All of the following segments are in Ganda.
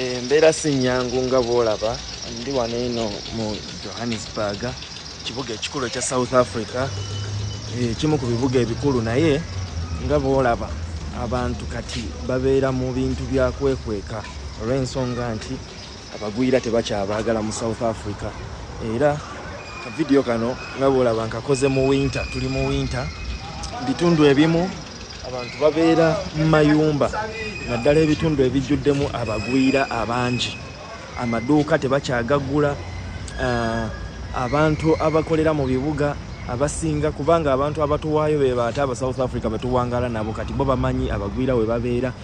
Embeera si nnyangu nga bw'olaba. Ndi wano eno mu Johannesburg, ekibuga ekikulu ekya South Africa, ekimu ku bibuga ebikulu, naye nga bw'olaba abantu kati babeera mu bintu bya kwekweka olw'ensonga nti abagwira tebakyabaagala mu South Africa era vidiyo kano nga bw'olaba nkakoze mu winta tuli mu winta bitundu ebimu Abantu babeera mu mayumba naddala ebitundu ebijjuddemu abagwira abangi, amaduuka tebakyagaggula, ah, abantu abakolera mu bibuga abasinga kubanga abantu abatuwaayo be baate aba South Africa betuwangala nabo kati bo bamanyi abagwira we babeera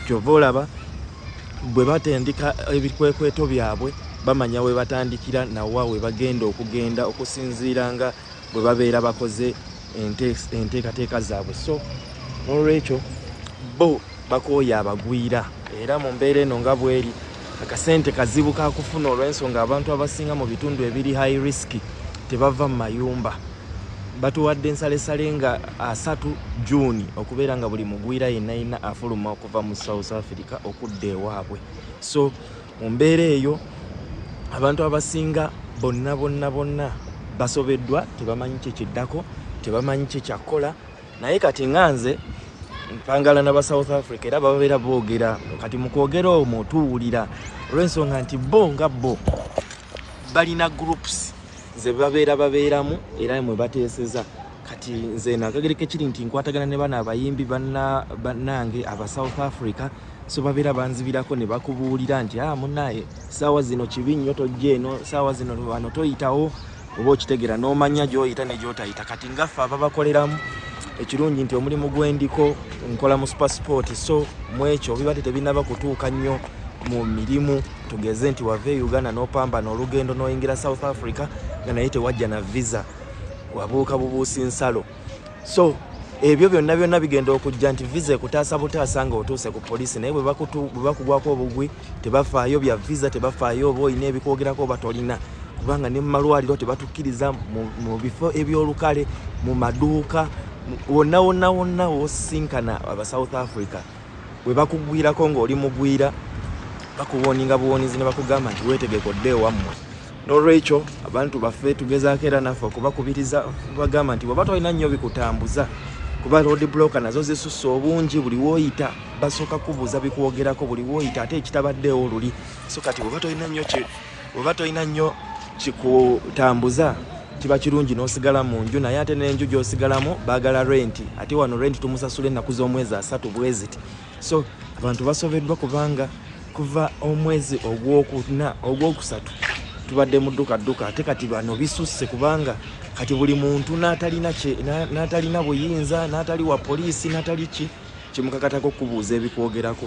kyova olaba bwe batendeka ebikwekweto byabwe bamanya we batandikira nawa we bagenda okugenda okusinziira nga bwe babeera bakoze enteekateeka zaabwe so n'olwekyo bo bakooya abagwira era mu mbeera eno nga bweri akasente kazibu kakufuna olw'ensonga abantu abasinga mu bitundu ebiri high risk tebava mu mayumba batuwadde ensalesale nga asatu juuni okubeera nga buli mugwira yenna yenna afuluma okuva mu south africa okudda ewaabwe so Mu mbeera eyo abantu abasinga bonna bonna bonna basobeddwa, tebamanyi kye kiddako, tebamanyi kye kyakukola. Naye kati nga nze mpangala na ba South Africa era babeera boogera kati mu kwogera omwo tuwulira olw'ensonga nti bo nga bo balina groups ze babeera babeeramu era mwe bateeseza kati nze nakagereko ekiri nti nkwatagana ne bano abayimbi bannange aba south africa so babeera banzibirako ne bakubuulira nti a ah, munaye saawa zino kibi nnyo tojja eno saawa zino wano toyitawo oba okitegera n'omanya gy'oyita ne gy'otayita kati ngaffe ababakoleramu ekirungi nti omulimu gwendiko nkola mu supasipoti so mu ekyo biba ti tebinaba kutuuka nnyo mu mirimu tugeze nti wava e uganda n'opambana olugendo n'oyingira south africa nga naye tewajja na visa wabuuka bubuusi nsalo so ebyo byonna byonna bigenda okujja nti visa ekutaasa butaasa nga otuuse ku poliisi naye bwebakugwako obugwi tebafaayo bya visa tebafaayo oba olina ebikwogerako oba tolina kubanga ne mumalwaliro tebatukkiriza mu bifo ebyolukale mu maduuka wonna wonna wonna wosinkana aba south africa webakugwirako ng'oli mugwira bakuwoninga buwonizi nebakugamba nti wetegeka odde ewammwe nolwekyo abantu baffe tugezaako era naffe okubakubiriza bagamba nti weba tolina nnyo bikutambuza kuba road blocker nazo zisusse obungi buli woyita basooka kubuuza bikwogerako buli woyita ate ekitabaddeewo luli so kati weba tolina nnyo oba tolina nnyo kikutambuza kiba kirungi n'osigala mu nju naye ate n'enju gy'osigalamu baagala renti ate wano renti tumusasula ennaku z'omwezi asatu bweziti so abantu basobeddwa kubanga kuva omwezi ogwokuna ogwokusatu tubadde mu dduka dduka ate kati bano bisusse kubanga kati buli muntu n'atalina buyinza n'atali wa poliisi n'atali ki kimukakatako okubuuza ebikwogerako